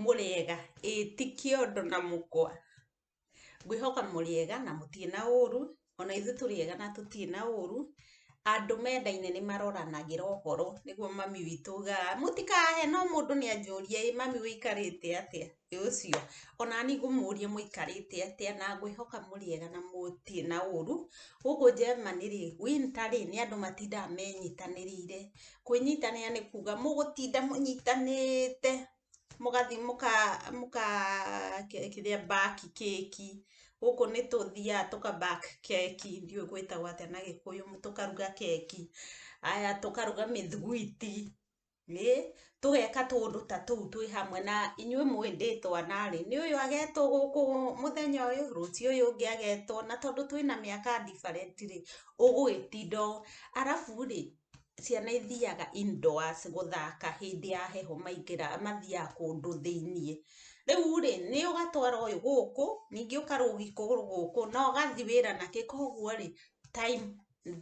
Mũrĩega, ĩĩ ti kĩondo na mũkwa. Ngwĩhoka mũrĩega na mũtirĩ na ũru, o na ithuĩ tũrĩega na tũtirĩ na ũru. Andũ menda-inĩ nĩ maroranagĩra ũhoro, nĩguo mami witũ augaga mũtikaheno mũndũ nĩ anjũria, 'ĩ mami ũikarĩte atĩa? Mũthĩ ũcio, o na niĩ ngũmũũria mũikarĩte atĩa, na ngwĩhoka mũrĩega na mũtirĩ na ũũru. Gũkũ Germany-rĩ, winter-rĩ, nĩ andũ matindaga menyitanĩrĩire. Kwĩnyitanĩra nĩ kuuga mũgũtinda mũnyitanĩte, mũgathiĩ mũka bake keki. Gũkũ nĩ tũthiaga tũka bake keki, ndiũĩ gwĩtagwo atĩa na Gĩkũyũ, tũkaruga keki, haya tũkaruga mĩthugwiti. Nĩ, tũgeka tũũndũ ta tũu twĩ hamwe, na inyuĩ mũĩ ndĩ twana rĩ, nĩ ũyũ agetwo gũkũ mũthenya ũyũ, rũciũ ũyũ ũngĩ agetwo, na tondũ twĩ na mĩaka different rĩ, ũgũgĩtinda ũũ. Arabu rĩ, ciana ithiaga indoors gũthaka hĩndĩ ya heho maingĩra mathiaga kũndũ thĩiniĩ. Rĩu rĩ, nĩ ũgatwara ũyũ gũkũ, ningĩ ũkarũgi kũgũrũ gũkũ, na ũgathi wĩra na kĩ, kũguo rĩ, time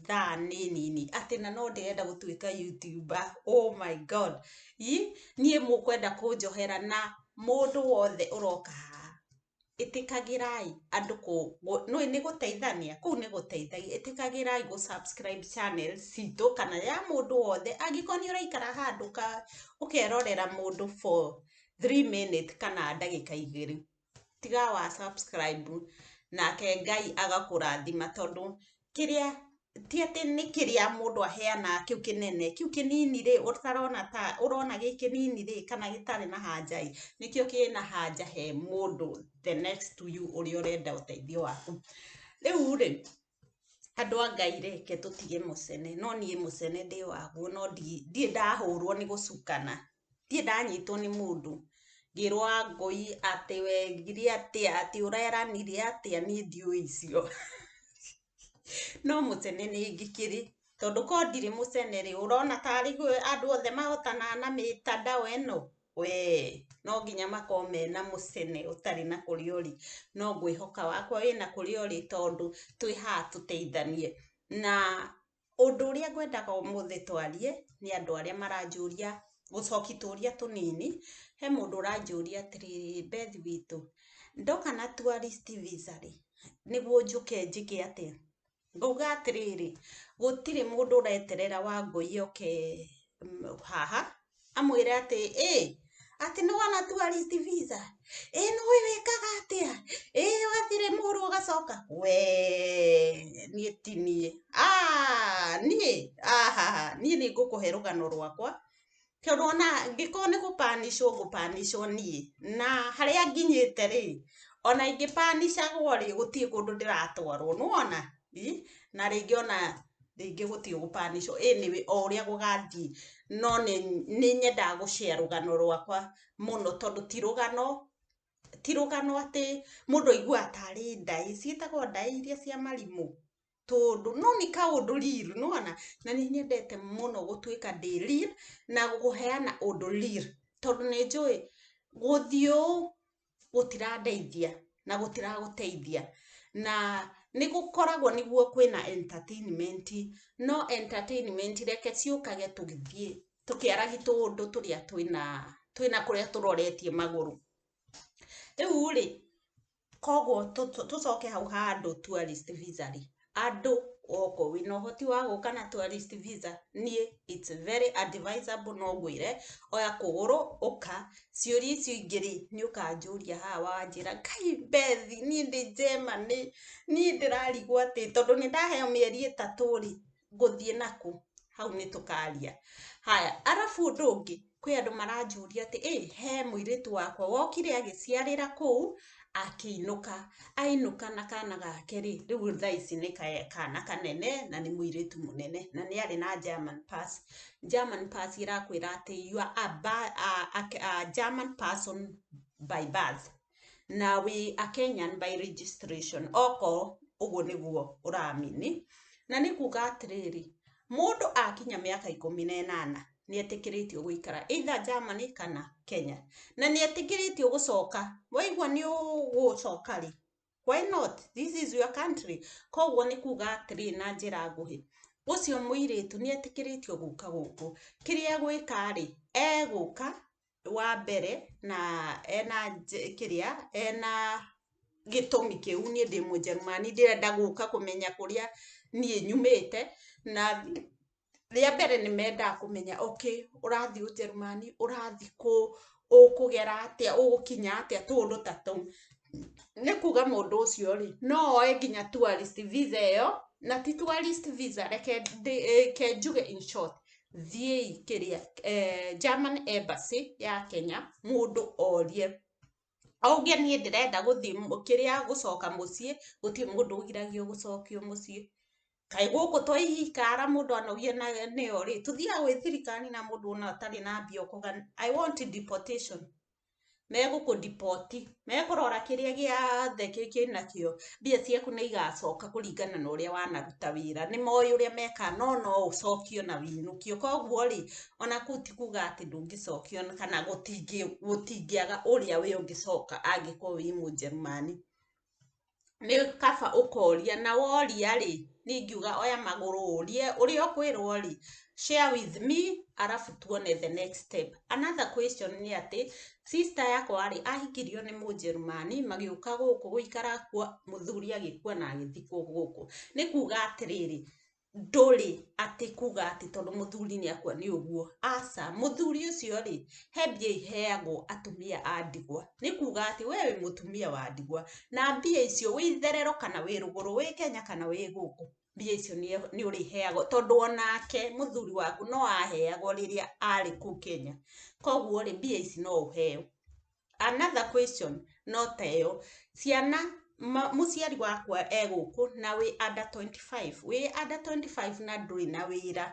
thaa nĩ nini atĩ na no ndĩrenda gũtuĩka youtuber oh my god Ĩ, niĩ mũkwenda kũnjohera na mũndũ wothe ũroka haha ĩtĩkagĩrai andũ kũ- gũ- nũĩ nĩ gũteithania kũu nĩ gũteithagia ĩtĩkagĩrai gũ subscribe channel citũ kana ya mũndũ wothe angĩkorwo nĩ ũraikara handũ ka ũkerorera mũndũ for 3 minute kana ndagĩka igĩrĩ tiga wa subscribe nake Ngai agakũrathima tondũ kĩrĩa ti atĩ nĩ kĩrĩa mũndũ aheanaga kĩu kĩnene kĩu kĩnini rĩ ũtarona ta ũrona gĩ kĩnini rĩ kana gĩtarĩ na hanja ĩ nĩkĩo kĩrĩ na hanja he mũndũ the next to you ũrĩa ũrenda ũteithio waku rĩu rĩ Andũ a Ngai reke tũtige mũcene, no niĩ mũcene ndĩ waguo no ndirĩ ndahũrwo nĩ gũcukana, ndirĩ ndanyitwo nĩ mũndũ ngĩrwo wangũi atĩ wekire atĩa, atĩ ũreranire atĩa niĩ ndiũĩ icio. No mũcene nĩ ngĩkĩrĩ, tondũ korwo ndirĩ mũcene rĩ, ũrona tarĩ andũ othe mahotanaga na mĩtandao ĩno? wee no nginya makorwo mena mũcene ũtarĩ na kũrĩa ũrĩ no ngwĩhoka wakwa wĩna kũrĩa ũrĩ tondũ twĩ haha tũteithanie na ũndũ ũrĩa ngwendaga ũmũthĩ twarie nĩ andũ arĩa maranjũria gũcoki tũria tũnini he mũndũ ũranjũria atĩrĩrĩ Beth witũ ndoka na tourist visa rĩ nĩguo njũke njĩke atĩa? Ngauga atĩrĩrĩ, gũtirĩ mũndũ ũreterera Wangũi oke haha amwĩre atĩ ĩ, atĩ nĩ wona tourist visa? Ĩ nĩũĩ wĩkaga atĩa? Ĩ wathire Mũrũ ũgacoka? Wee niĩ ti niĩ. Aah! Niĩ? Ahaha! Niĩ nĩ ngũkũhe rũgano rwakwa Tondũ ona angĩkorwo nĩ gũ punish wo ngũ punish wo niĩ, na harĩa nginyĩte rĩ, ona ingĩ punish agwo rĩ, gũtirĩ kũndũ ndĩratwarwo, nĩ wona? ĩ, na rĩngĩ ona rĩngĩ gũtirĩ gũ punish wo, anyway o ũrĩa gũgathiĩ, no nĩ nĩ nyendaga gũ share rũgano rwakwa mũno tondũ ti rũgano, ti rũgano atĩ mũndũ aiguaga tarĩ ndaĩ, ciĩtagwo ndaĩ iria cia marimũ? tũũndũ no nĩ kaũndũ real nĩwona na nĩ nyendete mũno gũtuĩka ndĩ real na kũheana ũndũ real tondũ nĩ njũĩ gũthiĩ ũũ gũtirandeithia na gũtiragũteithia na nĩ gũkoragwo nĩguo kwĩna entertainment no entertainment reke ciũkage tũgĩthiĩ tũkĩaragi tũũndũ tũrĩa twĩna twĩna kũrĩa tũroretie magũrũ. Rĩu rĩ Koguo tũcoke hau ha andũ tourist visa rĩ, andũ okorwo wĩna ũhoti wa gũka na tourist visa, niĩ it's very advisable no ngwĩre oya kũgũrũ ũka. Ciũria icio ingĩ rĩ, nĩ ũkanjũria haha wanjĩra, kaĩ Bethi niĩ ndĩ Germany, niĩ ndĩrarigwo atĩ tondũ nĩ ndaheo mĩeri ĩtatũ rĩ, ngũthiĩ nakũ hau nĩ tũkaria haya arabu ũndũ ũngĩ kwĩ andũ maranjũria atĩ ĩ he mũirĩtu wakwa wokire agĩciarĩra kũu akĩinũka ainũka na kana gake rĩ rĩu thaa ici nĩ kana kanene na nĩ mũirĩtu mũnene na nĩ arĩ na German pass German pass ĩrakwĩra atĩ you are a German person by birth na we a kenyan by registration oko ũguo nĩguo ũramini na nĩ kuga atĩrĩrĩ mũndũ akinya mĩaka ikũmi na ĩnana nĩ etĩkĩrĩtio gũikara either germany kana kenya na nĩ etĩkĩrĩtio gũcoka waigua nĩ ũgũcoka rĩ why not this is your country koguo nĩ kuga atĩrĩ na njĩra nguhĩ ũcio mũirĩtu nĩ etĩkĩrĩtio gũka gũkũ kĩrĩa gwĩka rĩ egũka wa mbere na ena kĩrĩa ena gĩtũmi kĩu niĩ ndĩ mũjerumani ndĩrenda gũka kũmenya kũrĩa niĩ nyumĩte na rĩa mbere nĩ mendaga kũmenya okay ũrathiĩ ũjerumani ũrathiĩ kũ ũkũgera atĩa ũgũkinya atĩa tũũndũ ta tũu nĩ kuga mũndũ ũcio rĩ no oe nginya tourist visa ĩyo na ti tourist visa reke ndĩ- reke njuge in short thiĩi kĩrĩa eh, German embassy ya Kenya mũndũ orie auge niĩ ndĩrenda gũthiĩ mũ- kĩrĩa gũcoka mũciĩ gũtirĩ mũndũ ũgiragio gũcokio mũciĩ kaĩ gũkũ to ikara mũndũ anogie na nĩyo rĩ tũthiaga gwĩ thirikari na mũndũ ona atarĩ na mbia ũkauga i want deportation megũkũ deport mekũrora kĩrĩa gĩothe kĩnakĩo mbia ciaku nĩ igacoka kũringana na ũrĩa wanaruta wĩra nĩ moĩ ũrĩa mekaga no no ũcokio na wũinũkio kwoguo rĩ ona kũu ti kuga atĩ ndũngĩcokio kana gũtingĩaga ũrĩa we ũngĩcoka angĩkorwo wĩ mũjerumani. nĩ kaba ũkoria na woria rĩ, niĩ ingiuga oya magũrũ ũrie, ũrĩa ũkwĩrwo rĩ, share with me arabu tuone the next step. Another question nĩ atĩ, sister yakwa rĩ, ahikirio nĩ mũnjerumani, magĩũka gũkũ gũikara kuo, mũthuri agĩkua na agĩthikwo gũkũ. Nĩ kuuga atĩrĩrĩ, ndũrĩ atĩ kuga atĩ tondũ mũthuri nĩ akua nĩ ũguo. Aca, mũthuri ũcio rĩ, he mbia iheagwo atumia a ndigwa. Nĩ kuga atĩ we wĩ mũtumia wa ndigwa, na mbia icio wĩ itherero kana wĩ rũgũrũ, wĩ Kenya kana wĩ gũkũ, mbia icio nĩ ũrĩheagwo. Tondũ onake mũthuri waku no aheagwo rĩrĩa arĩ kũu Kenya. Koguo rĩ, mbia ici no ũheo. Another question no ta ĩyo, ciana mũciari wakwa e gũkũ na wĩ under twenty five, wĩ under twenty five na ndũrĩ na wĩra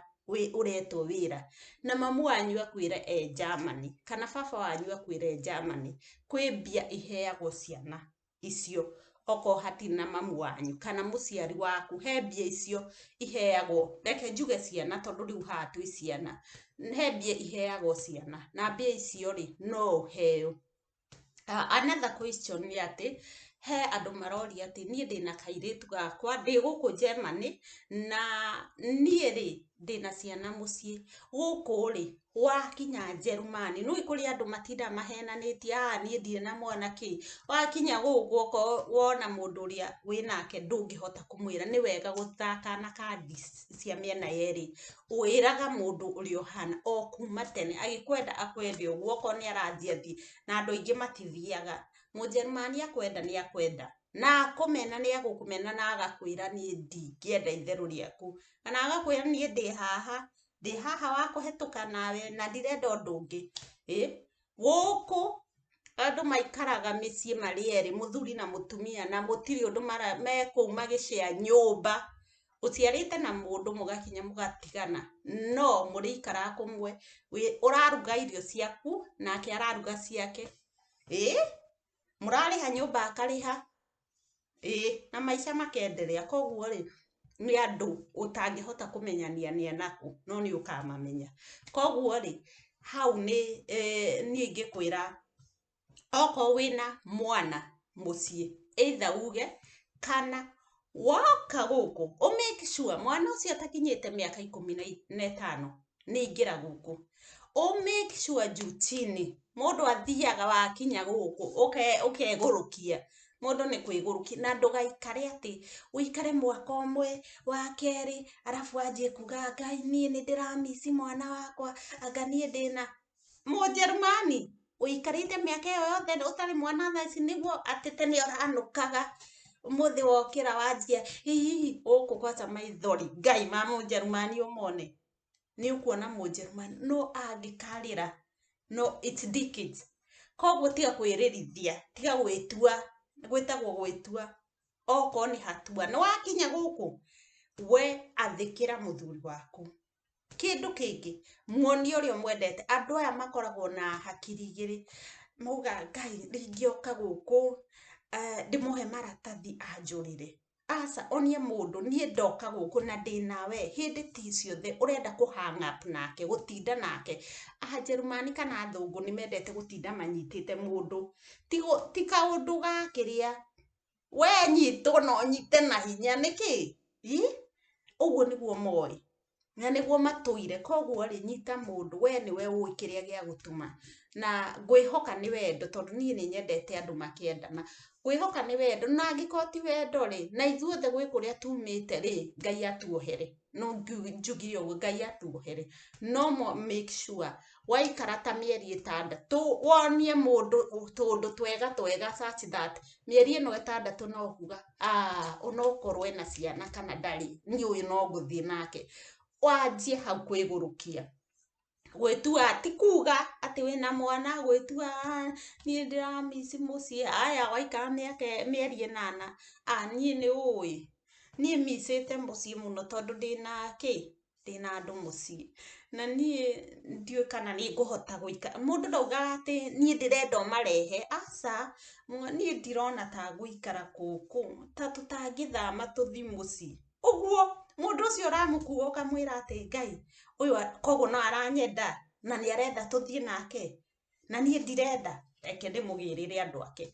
ũretwo wĩra, na mamu wanyu akwĩre e Germany, kana baba wanyu akwĩre e Germany, kwĩ mbia iheagwo ciana. icio okorwo hatirĩ na mamu wanyu kana mũciari waku he mbia icio iheagwo reke njuge ciana tondũ rĩu haha twĩ ciana he mbia iheagwo ciana na mbia icio rĩ no ũheo. Another question nĩ atĩ he andũ maroria atĩ niĩ ndĩna kairĩtu gakwa ndĩ gũkũ Germany na niĩ rĩ ndĩna ciana mũciĩ gũkũ rĩ Wakinya Njerumani, nĩũĩ kũrĩ andũ matindaga mahenanĩtie, aah niĩ ndirĩ na mwana kĩ, wakinya gũkũ okorwo wona mũndũ ũrĩa wĩ nake ndũngĩhota kũmwĩra nĩ wega gũthakana kandi cia mĩena yerĩ, wĩraga mũndũ ũrĩa ũhana o kuma tene, agĩkwenda akwende ũguo okorwo nĩ arathiĩ athiĩ, na andũ aingĩ matithiaga, Mũnjerumani akwenda nĩ akwenda, na akũmena nĩ agũkũmena na agakwĩra niĩ ndingĩenda itherũ rĩaku, kana agakwĩra niĩ ndĩ haha ndĩ haha wa kũhetũka nawe na ndirenda ũndũ ũngĩ ĩ gũkũ andũ maikaraga mĩciĩ marĩ erĩ mũthuri na mũtumia na mũtirĩ ũndũ mara- mekũu magĩcea nyũmba ũciarĩte na mũndũ mũgakinya mũgatigana no mũrĩikara kũmwe wĩ- ũraruga irio ciaku nake araruga ciake ĩ mũrarĩha nyũmba akarĩha ĩĩ na maica makenderea koguo rĩ nĩ andũ ũtangĩhota kũmenyania nĩ anakũ no nĩ ũkamamenya koguo rĩ hau nĩ niĩ ingĩkwĩra okorwo wĩna mwana mũciĩ either uge kana woka gũkũ ũ make sure mwana ũcio atakinyĩte mĩaka ikũmi na i- na ĩtano nĩ ingĩra gũkũ ũ make sure njuti-inĩ mũndũ athiaga wakinya gũkũ ũke- ũkegũrũkia mũndũ nĩ kwĩgũrũkia na ndũgaikare atĩ ũikare mwaka ũmwe wa kerĩ arabu wanjie kuga ngai niĩ nĩ ndĩramisi mwana wakwa anga niĩ ndĩna Mũjerumani? Ũikarĩte mĩaka ĩyo yothe ũtarĩ mwana thaa ici nĩguo atĩ tene ũranũkaga ũmũthĩ wokĩra wanjia ĩ hihi gũkũ gwanja maithori Ngai ma Mũjerumani ũmone? Nĩ ũkuona Mũjerumani no angĩkarĩra no it's decades. Kwoguo tiga kwĩririthia, tiga gwĩtua, gwĩtagwo gwĩtua okorwo nĩ hatua. Nĩ wakinya gũkũ we athĩkĩra mũthuri waku. Kĩndũ kĩngĩ, muonie ũrĩa ũmwendete. Andũ aya makoragwo na hakiri igĩrĩ, maugaga Ngai rĩngĩ oka gũkũ ndĩmũhe maratathi anjũrĩre. Aca, onie mũndũ niĩ ndoka gũkũ na ndĩ nawe hĩndĩ ti ciothe ũrenda kũ hang up nake, gũtinda nake. Anjerumani kana athũngũ nĩ mendete gũtinda manyitĩte mũndũ. Ti kaũndũ ga kĩrĩa... we nyitwo na ũnyite na hinya nĩkĩ i ũguo nĩguo moĩ na nĩguo matũire koguo rĩ nyita mũndũ we nĩwe ũĩ kĩrĩa gĩa gũtũma na ngwĩhoka nĩ wendo tondũ niĩ nĩ nyendete andũ makĩendana ngwĩhoka nĩ wendo na angĩkorwo ti wendo rĩ na ithuothe gwĩ kũrĩa tumĩte rĩ Ngai atuohere. no ngiu- njugire ũguo ngai atuohere no mo- make sure waikara ta mĩeri ĩtandatũ wonie mũndũ tũndũ twega twega such that mĩeri ĩno ĩtandatũ no kuga "Ah, ona okorwo ena ciana kana ndarĩ niĩ ũyũ no ngũthiĩ nake wanjie hau kwĩgũrũkia gwĩtua ti kuga atĩ wĩna mwana gwĩtua aah niĩ ndĩra miss mũciĩ aya waikara mĩaka mĩeri ĩnana aah niĩ nĩ ũĩ niĩ miss ĩte mũciĩ mũno tondũ ndĩna kĩ? ndĩna andũ mũciĩ na niĩ ndiũĩ kana nĩ ngũhota gũikara mũndũ ndaugaga atĩ niĩ ndĩrenda ũmarehe aca niĩ ndirona ta ngũikara gũkũ ta tũtangĩthama tũthiĩ mũciĩ. Ũguo mũndũ ũcio ũramũkua ũkamwĩra atĩ Ngai ũyũ koguo no aranyenda na nĩ arenda tũthiĩ nake na niĩ ndirenda, reke ndĩmũgĩrĩre andũ ake.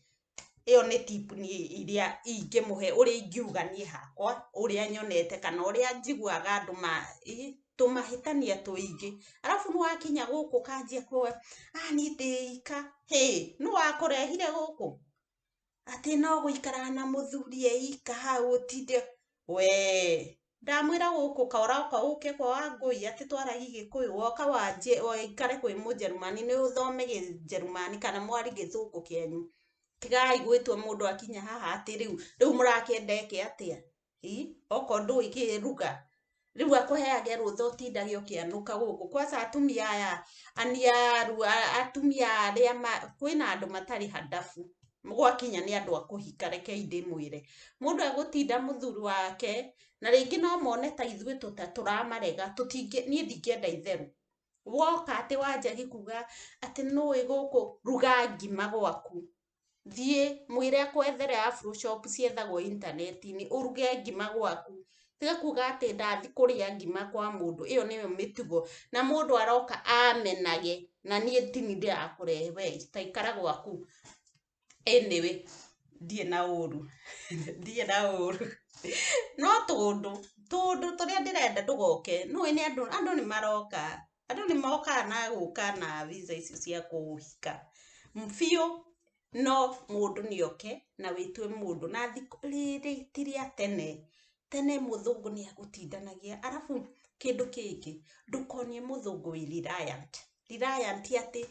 Ĩyo nĩ tip niĩ ĩrĩa ingĩmũhe ũrĩa ingiuga niĩ hakwa, ũrĩa nyonete kana ũrĩa njiguaga andũ ma tũmahĩtania tũingĩ. Arabu nĩ wakinya gũkũ ũkanjia kũ anitĩĩika, hĩ nũ wakũrehire gũkũ? atĩ no gũikara na mũthuri e ika hau ũtinde we ndamwĩra gũkũ kaoroka ũke kwa wangũi atĩ twaragi gĩkũyũ woka wanjĩ ũikare kwĩ mũjerumani nĩ ũthome kĩjerumani kana mwari gĩthũngũ kĩanyu tigai gwĩtua mũndũ akinya haha atĩ rĩu rĩu mũrakĩenda eke atĩa ii okorwo ndũĩ kĩruga rĩu akũheage rũtha ũtindage ũkĩanũka gũkũ kwaca atumia aya aniaru a- atumia arĩa ma- kwĩna andũ matarĩ handabu gwakinya nĩ andũ a kũhika rekei ndĩmwĩre mũndũ agũtinda mũthuri wake na rĩngĩ no mone ta ithuĩ tũta tũramarega tũtingĩ niĩ ndingĩenda itherũ woka atĩ wanjagia kuga atĩ nũĩ gũkũ ruga ngima gwaku thiĩ mwĩre akwethere afroshop ciethagwo intaneti-inĩ ũruge ngima gwaku, tiga kuga atĩ ndathiĩ kũrĩa ngima kwa mũndũ ĩyo nĩyo mĩtugo, na mũndũ aroka amenage na niĩ ti niĩ ndĩrakũrehe we ta ikara gwaku, anyway ndirĩ na ũru ndirĩ na ũru no tũũndũ tũũndũ tũrĩa ndĩrenda ndũgoke nĩũĩ andũ nĩmaroka. andũ nĩ mokaga na gũka na visa icio cia kũhika biũ no mũndũ nĩ oke na wĩtwe mũndũ na thikũ rĩrĩ ti rĩa tene tene mũthũngũ nĩ agũtindanagia arabu kĩndũ kĩngĩ ndũkonie mũthũngũ wĩ reliant reliant atĩ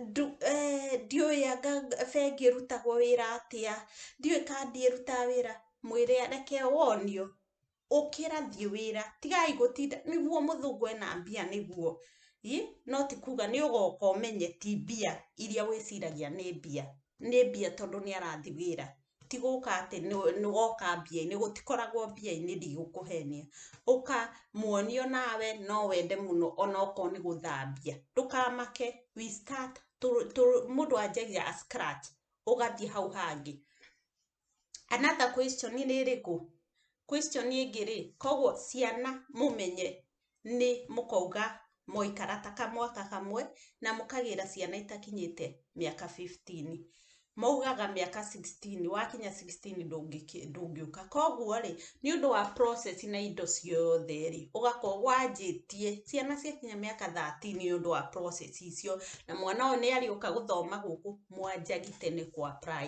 ndu eh, ndiũĩ anga bengi ĩrutagwo wĩra atĩa ndiũĩ kandi ĩrutaga wĩra mwĩre reke wonio ũkĩra thiĩ wĩra tigai gũtinda nĩguo mũthũngũ ena mbia nĩguo ĩ no ti kuga nĩ ũgoka ũmenye ti mbia iria wĩciragia nĩ mbia nĩ mbia tondũ nĩ arathi wĩra ti gũka atĩ nĩ woka mbia-inĩ gũtikoragwo mbia-inĩ ndigũkũhenia ũka muonio nawe no wende mũno ona okorwo nĩ gũthambia ndũkamake we start mũndũ anjagia a scratch ũgathiĩ hau hangĩ. Another question nĩ ĩrĩkũ? Question ĩngĩ rĩ, koguo ciana mũmenye nĩ mũkauga mwaikara ta kamwaka kamwe na mũkagĩra ciana itakinyĩte mĩaka fifteen. Maugaga mĩaka sixteen, wakinya sixteen ndũngĩũka. Koguo rĩ, nĩ ũndũ wa process na indo ciothe rĩ, ũgakorwo wanjĩtie ciana ciakinya mĩaka thirteen nĩ ũndũ wa process icio, na mwana ũyũ nĩ arĩũka gũthoma gũkũ mwanjagi tene kũ apply.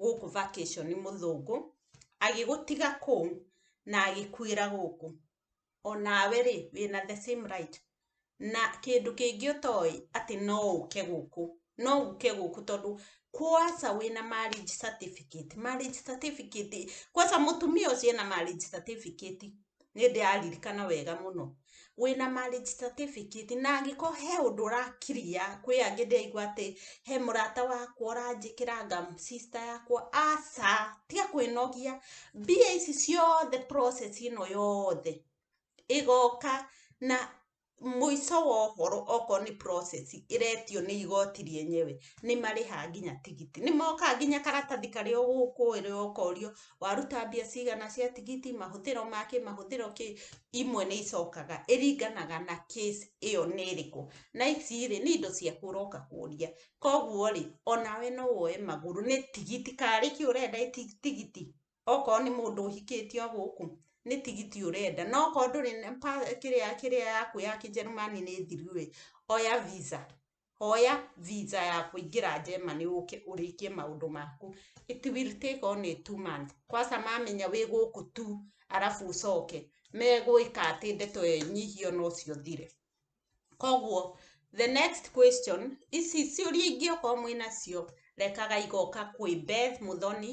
gũkũ vacation mũthũngũ agĩgũtiga kũu na agĩkuĩra gũkũ onawe rĩ wĩna the same right na kĩndũ kĩngĩ ũtoĩ atĩ no ũke gũkũ no ũke gũkũ tondũ kwaca wĩna marriage certificate marriage certificate kwaca mũtumia ũcio ena marriage certificate nĩ ndĩraririkana wega mũno, wĩna marriage certificate na angĩkorwo he ũndũ ũra clear, kwĩ angĩ ndĩraigua atĩ he mũrata wakwa ũranjĩkĩra anga sister yakwa, aca, tiga kwĩnogia, mbia ici ciothe process ĩno yothe ĩgoka na mũico wa ũhoro okorwo nĩ process ĩretio nĩ igoti rĩenyewe nĩ marĩhaga nginya tigiti. Nĩ mokaga nginya karatathi karĩa ũgũkuĩrwo ũkorio waruta mbia cigana cia tigiti, mahũthĩro ma kĩ, mahũthĩro kĩ, imwe nĩ icokaga. Ĩringanaga na case ĩyo nĩ ĩrĩkũ. Na ici rĩ, nĩ indo ciaku ũroka kũria. Kũguo rĩ, o nawe no woe magũrũ nĩ tigiti, karĩ kĩ ũrenda ĩ tigiti? okorwo nĩ mũndũ ũhikĩtie o gũkũ, nĩ tigiti ũrenda. No okorwo ndũrĩ na pa kĩrĩa kĩrĩa yaku ya Kĩnjĩrĩmani nĩ thiru ĩ, oya visa. Oya visa ya kũingĩra Germany ũũke ũrĩkie maũndũ maku. It will take only two months. Kwanza mamenya wĩ gũkũ tu, arabu ũcoke, megwĩka atĩ ndeto ĩyo ĩnyihio na ũcio ũthire. Kũguo, the next question, ici ciũria ingĩ okorwo mwĩna cio, rekaga igoka kwĩ Beth Mũthoni,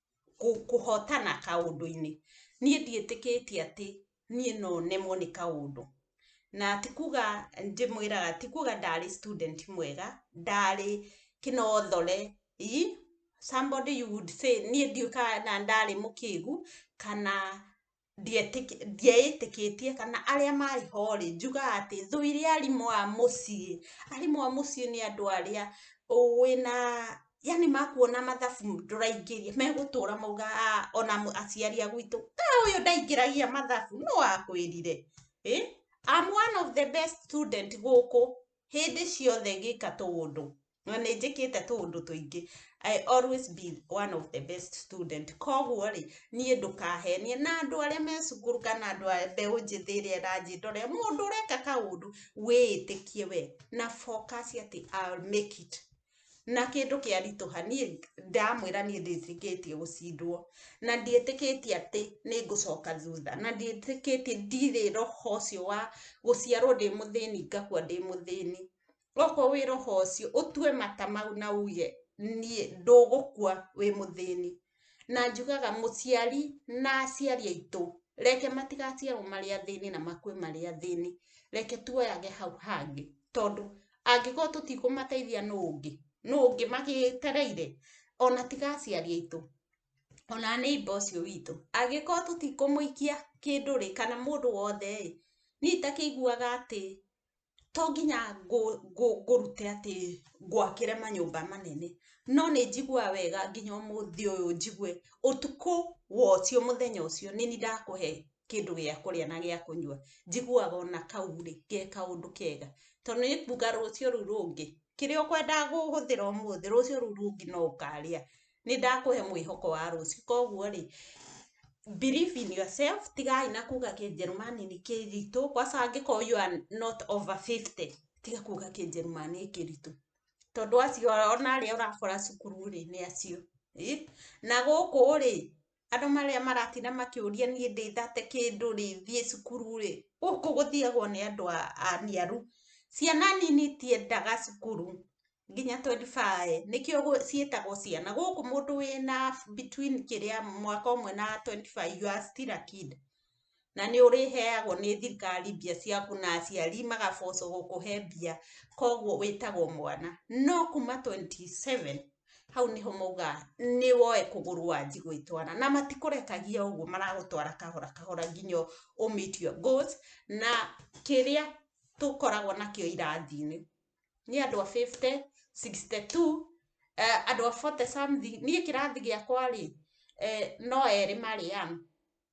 kũ- kũhotana kaũndũ-inĩ niĩ ndiĩtĩkĩtie atĩ niĩ no nemwo nĩ kaũndũ na ti kuga ndĩmwĩraga ti kuga ndarĩ student mwega ndarĩ kĩnothore ii somebody you would say niĩ ndiũkaga na ndarĩ mũkĩgu kana ndieĩtĩkĩtie kana arĩa marĩ ho rĩ, njugaga atĩ thũ iria arimũ a mũciĩ, arimũ a mũciĩ nĩ andũ arĩa ũĩ na yaani makuona mathabu ndũraingĩria megũtũra maugaga aah ona aciari a gwitũ aah ũyũ ndaingĩragia mathabu, nũ wakwĩrire? ĩ am one of the best student gũkũ hĩndĩ ciothe ngĩka tũũndũ. na nĩ njĩkĩte tũũndũ tũingĩ I always be one of the best student koguo rĩ niĩ ndũkahenie na andũ arĩa me cukuru kana andũ a mbeũ njĩthĩ ĩrĩa ĩranjĩndorera mũndũ ũreka kaũndũ wĩĩtĩkie we na focus atĩ I'll make it na kĩndũ kĩa ritũha niĩ ndamwĩra niĩ ndĩtĩkĩtie gũcindwo na ndiĩtĩkĩtie atĩ nĩ ngũcoka thutha na ndiĩtĩkĩtie ndirĩ roho ũcio wa gũciarwo ndĩ mũthĩni ngakua ndĩ mũthĩni Okorwo wĩ roho ũcio, ũtue mata mau na uge, niĩ ndũgũkua wĩ mũthĩni. Na njugaga mũciari na aciari aitũ, reke matigaciarwo marĩ athĩni na makue marĩ athĩni. Reke tuoyage hau hangĩ. Tondũ, angĩkorwo tũtikũmateithia nũ ũngĩ? Nũ ũngĩ magĩtereire? Ona tiga aciari aitũ, ona neighbour ũcio witũ. Angĩkorwo tũtikũmũikia kĩndũ-rĩ, kana mũndũ wothe-ĩ, niĩ itakĩiguaga atĩ to nginya ngũrute atĩ ngwakĩre manyũmba manene, no nĩ njiguaga wega nginya ũmũthĩ ũyũ njigue ũtukũ wocio mũthenya ũcio nĩ niĩ ndakũhe kĩndũ gĩa kũrĩa na gĩa kũnyua, njiguaga ona kau rĩ, ge kaũndũ kega. Tondũ nĩ kuuga rũciũ rũu rũngĩ, kĩrĩa ũkwendaga kũhũthĩra ũmũthĩ, rũciũ rũu rũngĩ no ũkarĩa. nĩ ndakũhe mwĩhoko wa rũciũ. Koguo rĩ, believe in yourself, tigai na kuga kĩnjerumani nĩ kĩritũ, kwaca angĩkorwo you are not over fifty, tiga kuga kĩnjerumani nĩ kĩritũ. Tondũ acio ona arĩa ũrakora cukuru rĩ, nĩ acio. Na gũkũ rĩ, andũ marĩa maratinda makĩũria niĩ ndĩ thate kĩndũ rĩ, thiĩ cukuru rĩ, gũkũ gũthiagwo nĩ andũ aniaru. Ciana nini itiendaga cukuru nginya twendi bae, nĩkĩo ciĩtagwo ciana. Gũkũ mũndũ wĩna between kĩrĩa, mwaka ũmwe na twendi bae, you are still a kid. na nĩ ũrĩheagwo nĩ thirikari mbia ciaku na aciari magabocwo gũkũhe mbia, koguo wĩtagwo mwana. No kuma twenty seven, hau nĩho maugaga nĩ woe kũgũrũ wanji gwĩtwara. Na matikũrekagia ũguo maragũtwara kahora kahora nginya ũ meet your goals, na kĩrĩa tũkoragwo nakĩo irathi-inĩ, nĩ andũ a fifty, sixty two, andũ a forty something, niĩ kĩrathi gĩakwa rĩ, no erĩ marĩ young.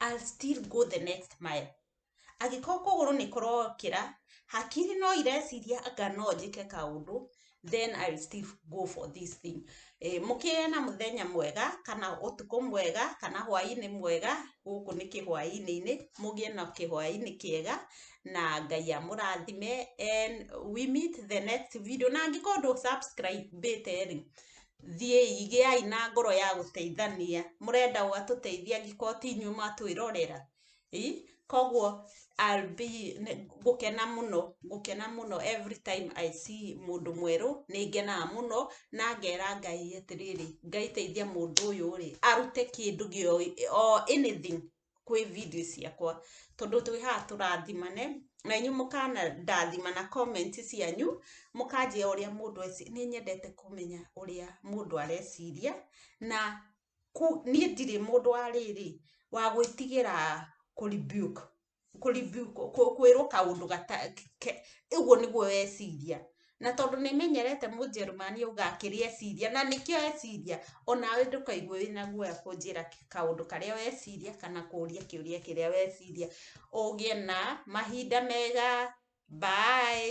I'll still go the next mile. Angĩkorwo kũgũrũ nĩ kũrokĩra, hakiri no ireciria anga no njĩke kaũndũ, then I will still go for this thing. Mũkĩgĩe na mũthenya mwega, kana ũtukũ mwega, kana hwainĩ mwega, gũkũ nĩ kĩhwainĩ-inĩ, mũgĩe na kĩhwainĩ kĩega, na Ngai amũrathime, and we meet the next video, na angĩkorwo ndũ subscribe ĩte rĩ, thiĩi gĩai na ngoro ya gũteithania, mũrenda ũ atũteithie angĩkorwo ti inyuĩ mwatwĩrorera? ii, koguo I'll be ngũkena mũno, ngũkena mũno every time I see mũndũ mwerũ, nĩ ngenaga mũno, na ngera Ngai atĩrĩrĩ, Ngai teithia mũndũ ũyũ rĩ, arute kĩndũ o anything kwĩ video ciakwa tondũ twĩ haha tũrathimane na inyu mũkana ndathima na comment cianyu mũkanjĩa ũrĩa mũndũ eci nĩ nyendete kũmenya ũrĩa mũndũ areciria na ku- niĩ ndirĩ mũndũ wa rĩrĩ wa gwĩtigĩra kũribuke kũribuke kwĩrwo kaũndũ gata ke- ũguo nĩguo weciria Na tondũ nĩ menyerete Mũjerumani auga kĩrĩa eciria, na nĩkĩo eciria, o nawe ndũkaigue wĩ na guoya kũnjĩra kaũndũ karĩa weciria kana kũũria kĩũria kĩrĩa weciria. Ũgĩe na mahinda mega. Bye.